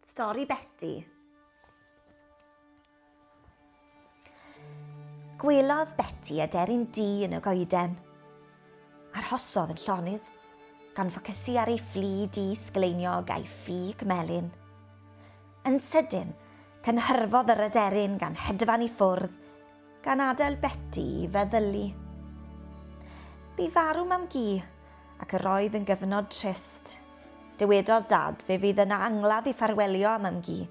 Stori Beti. Gwelodd Beti aderyn du yn y goeden. Arhosodd yn llonydd, gan ffocysu ar ei fflu du sgleiniog a'i ffug melyn. Yn sydyn, cynhyrfodd yr aderyn gan hedfan i ffwrdd Gan adael Beti i feddylu. Bu farw mam gi, ac yr oedd yn gyfnod trist. Dywedodd dad fe fydd yna angladd i ffarwelio â mam gi,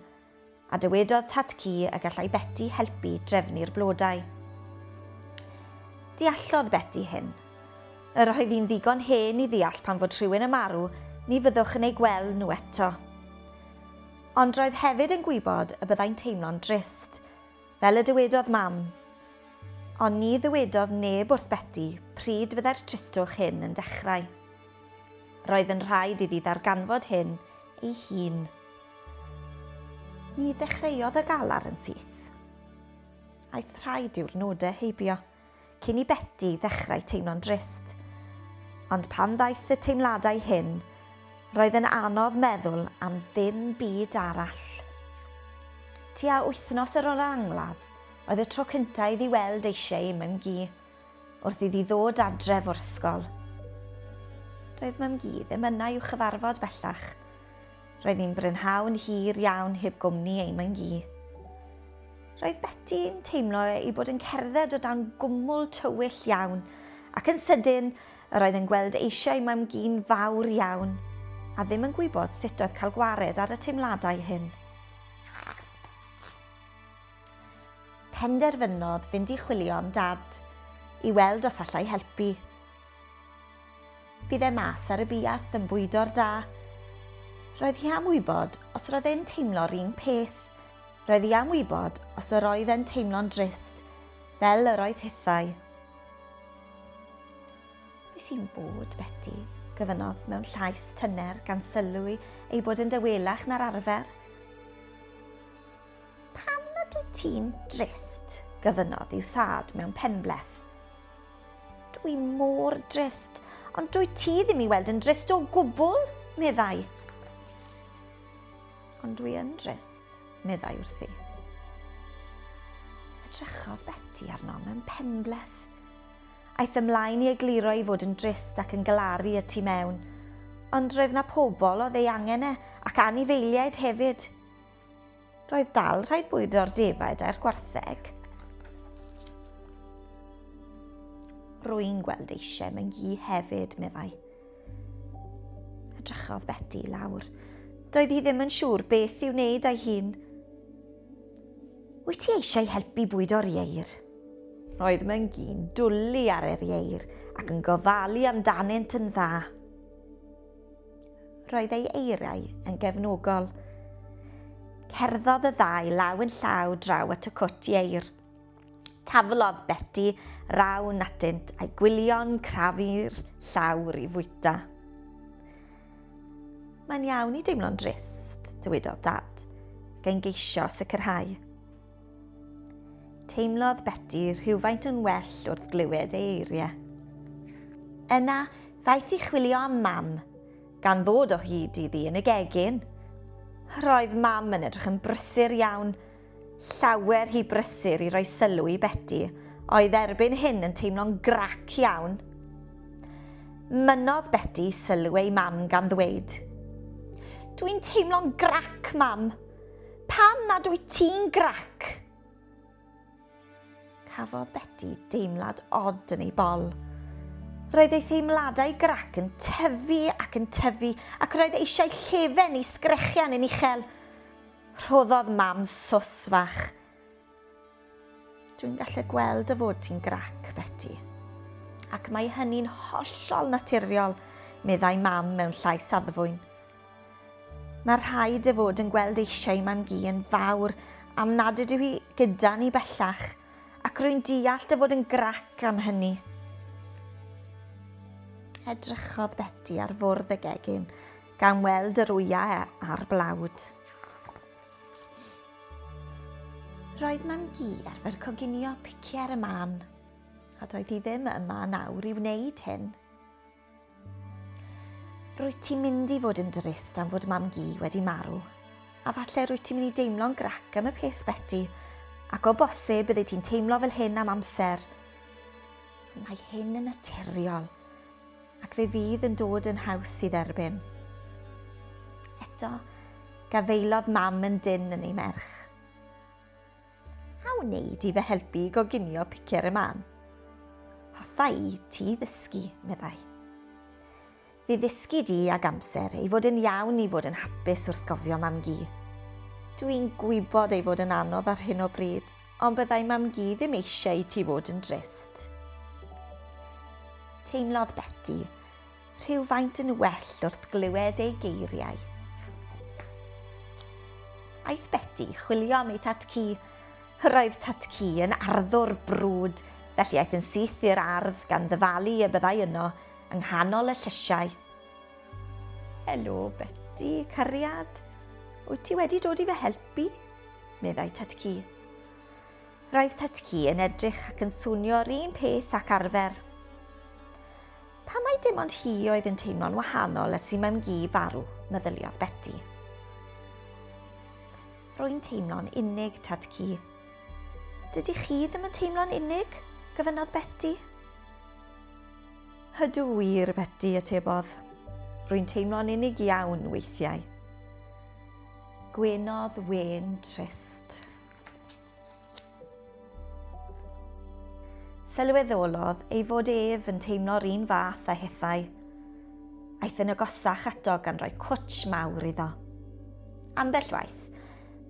a dywedodd tad ci y gallai Beti helpu drefnu'r blodau. Deallodd Beti hyn. Yr oedd hi'n ddigon hen i ddeall pan fod rhywun yn marw, ni fyddwch yn eu gweld nhw eto. Ond roedd hefyd yn gwybod y byddai'n teimlo'n drist, Fel y dywedodd Mam. Ond ni ddywedodd neb wrth Beti pryd fyddai'r tristwch hyn yn dechrau. Roedd yn rhaid iddi ddarganfod hyn ei hun. Ni ddechreuodd y galar yn syth. Aeth rhai diwrnodau heibio. cyn i Beti ddechrau teimlo'n drist. Ond pan ddaeth y teimladau hyn, roedd yn anodd meddwl am ddim byd arall. Tua wythnos ar ôl yr angladd, oedd y tro cyntaf iddi weld ei Shei, Mem Gi, wrth iddi ddod adref o'r ysgol. Doedd Mem Gi ddim yna i'w chyfarfod bellach, Roedd hi'n brynhawn hir iawn heb gwmni ei myngi. Roedd Beti'n teimlo ei bod yn cerdded o dan gwmwl tywyll iawn, ac yn sydyn, yr oedd yn gweld eisiau mamgu'n fawr iawn, a ddim yn gwybod sut oedd cael gwared ar y teimladau hyn. Penderfynodd fynd i chwilio am dad, i weld os allai helpu. Bydd e mas ar y buarth yn bwydo'r da. Roedd hi am wybod os roedd e'n teimlo'r un peth. Roedd hi am wybod os yr oedd e'n teimlo'n drist, fel yr oedd hithau. Be sy'n bod, Betty? gyfynodd mewn llais tyner gan sylwi ei bod yn dywelach na'r arfer. Pam nad wyt ti'n drist? gyfynodd i'w thad mewn penbleth. Dwi mor drist, ond dwy ti ddim i weld yn drist o gwbl, meddai. Ond dwi yn drist, meddai wrthi. Edrychodd Betty arno mewn penbleth. Aeth ymlaen i egluro i fod yn drist ac yn galaru y tu mewn, ond roedd na pobl oedd ei angen e ac anifeiliaid hefyd. Roedd dal rhaid bwydo'r defaid a'r gwartheg. Rwy'n gweld eisiau mewn gi hefyd, meddai. Edrychodd Betty i lawr. Doedd hi ddim yn siŵr beth i'w wneud a'i hun. Wyt ti eisiau helpu bwydo'r ieir? Roedd Myngi'n dwlu ar yr ieir ac yn gofalu amdanynt yn dda. Roedd ei eiriau yn gefnogol. Cerddodd y ddau law yn llaw draw at y cwt ieir. Taflodd Betty raw natynt a'i gwylio'n crafu'r llawr i fwyta. Mae'n iawn i deimlo'n drist, dywedodd Dad, gan geisio sicrhau. Teimlodd Beti rhywfaint yn well wrth glywed ei eiriau. Yna, ddaeth i chwilio am mam, gan ddod o hyd iddi yn y gegin. Roedd mam yn edrych yn brysur iawn, llawer hi brysur i roi sylw i Beti, oedd erbyn hyn yn teimlo'n grac iawn. Mynnodd Beti sylw ei mam gan ddweud, Dwi'n teimlo'n grac, mam. Pam nad wyt ti'n grac? Cafodd Beti deimlad od yn ei bol. Roedd ei theimladau grac yn tyfu ac yn tyfu ac roedd eisiau llefen i sgrechian yn uchel. Rhoddodd mam sos fach. Dwi'n gallu gweld dy fod ti'n grac, Betty. Ac mae hynny'n hollol naturiol, meddai mam mewn llais saddfwyn. Mae rhaid dy fod yn gweld eisiau mam gi yn fawr am nad ydw i gyda ni bellach, ac rwy'n deall dy fod yn grac am hynny. Edrychodd Betty ar fwrdd y gegin, gan weld yr wyau a'r blawd. Roedd Mam Gu ar fer coginio picie ar y man, a doedd hi ddim yma yn awr i wneud hyn. Rwyt ti'n mynd i fod yn drist am fod Mam Gu wedi marw, a falle rwyt ti'n mynd i deimlo'n grac am y peth, Betty, ac o bosib byddi ti'n teimlo fel hyn am amser. Mae hyn yn naturiol. Ac fe fydd yn dod yn haws i dderbyn. Eto, gafaelodd mam yn dyn yn ei merch. A wneud i fy helpu i goginio picer y man? Hoffa i ti ddysgu, meddai. Fe ddysgu di ag amser ei fod yn iawn i fod yn hapus wrth gofio mam-gu. Dwi'n gwybod ei fod yn anodd ar hyn o bryd, Ond byddai Mam-gu ddim eisiau i ti fod yn drist. Teimlodd Beti rhywfaint yn well wrth glywed ei geiriau. Aeth Beti chwilio am ei Thad-cu. Roedd Tad-cu yn arddwr brwd, felly aeth yn syth i'r ardd gan ddyfalu y byddai yno, yng nghanol y llysiau. Helo, Betty, cariad. Wyt ti wedi dod i fy helpu? meddai Tatci. Roedd Tatci yn edrych ac yn swnio'r un peth ac arfer. Pa mae dim ond hi oedd yn teimlo'n wahanol ers i mam gi farw, meddyliodd Betty. Rwy'n teimlo'n unig, Tatci. Dydy chi ddim yn teimlo'n unig? gyfynodd Betty. Ydw wir, Beti, atebodd. Rwy'n teimlo'n unig iawn weithiau. Gwenodd wên trist. Sylweddolodd ei fod ef yn teimlo'r un fath a hithau. Aeth yn agosach ato gan roi cwtsh mawr iddo. Ambell waith,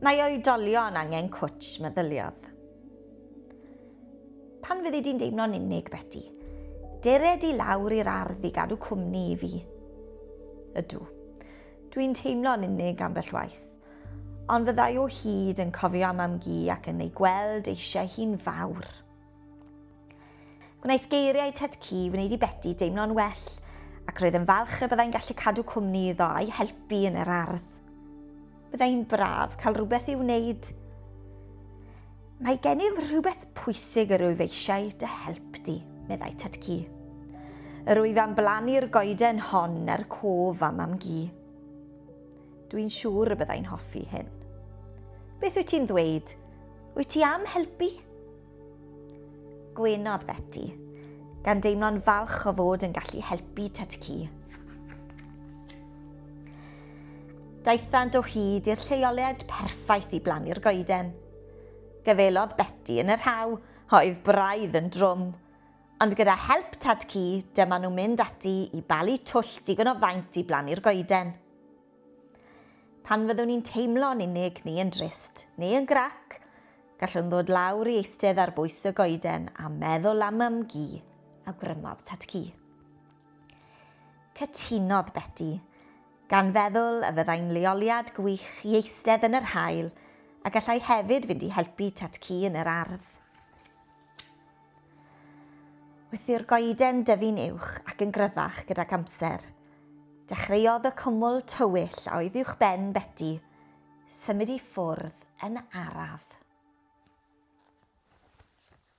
mae oedolion angen cwtsh, meddyliodd. Pan fyddi di'n deimlo'n unig, Beti, dere di lawr i'r ardd i gadw cwmni i fi. Ydw. Dwi'n teimlo'n unig ambell waith. Ond fyddai o hyd yn cofio am am gi ac yn ei gweld eisiau hi'n fawr. Gwnaeth geiriau Ted Ci wneud i Beti deimlo'n well, ac roedd yn falch y byddai'n gallu cadw cwmni iddo a'i helpu yn yr ardd. Byddai'n braf cael rhywbeth i'w wneud. Mae gennyf rhywbeth pwysig yr wyf eisiau dy help di, meddai Tad-cu. Yr wyf am blannu'r goeden hon er cof am Mam-gu. Dwi'n siŵr y byddai'n hoffi hyn. Beth wyt ti'n ddweud? Wyt ti am helpu? Gwynodd Beti, gan deimlo'n falch o fod yn gallu helpu Tatki. Daethant o hyd i'r lleoliad perffaith i blannu'r goeden. Gyfelodd Beti yn yr haw, oedd braidd yn drwm. Ond gyda help Tatki, dyma nhw'n mynd ati i balu twll digon o faint i blannu'r goeden. Pan fyddwn ni'n teimlo'n unig neu yn drist neu yn grac, gallwn ddod lawr i eistedd ar bwys y goeden a meddwl am mam gi, awgrymodd tad cu. Cytunodd Beti, gan feddwl y fyddai'n leoliad gwych i eistedd yn yr haul a gallai hefyd fynd i helpu tad cu yn yr ardd. Wrth i'r goeden dyfu'n uwch ac yn gryfach gydag amser, dechreuodd y cwmwl tywyll a oedd uwchben Beti symud i ffwrdd yn araf.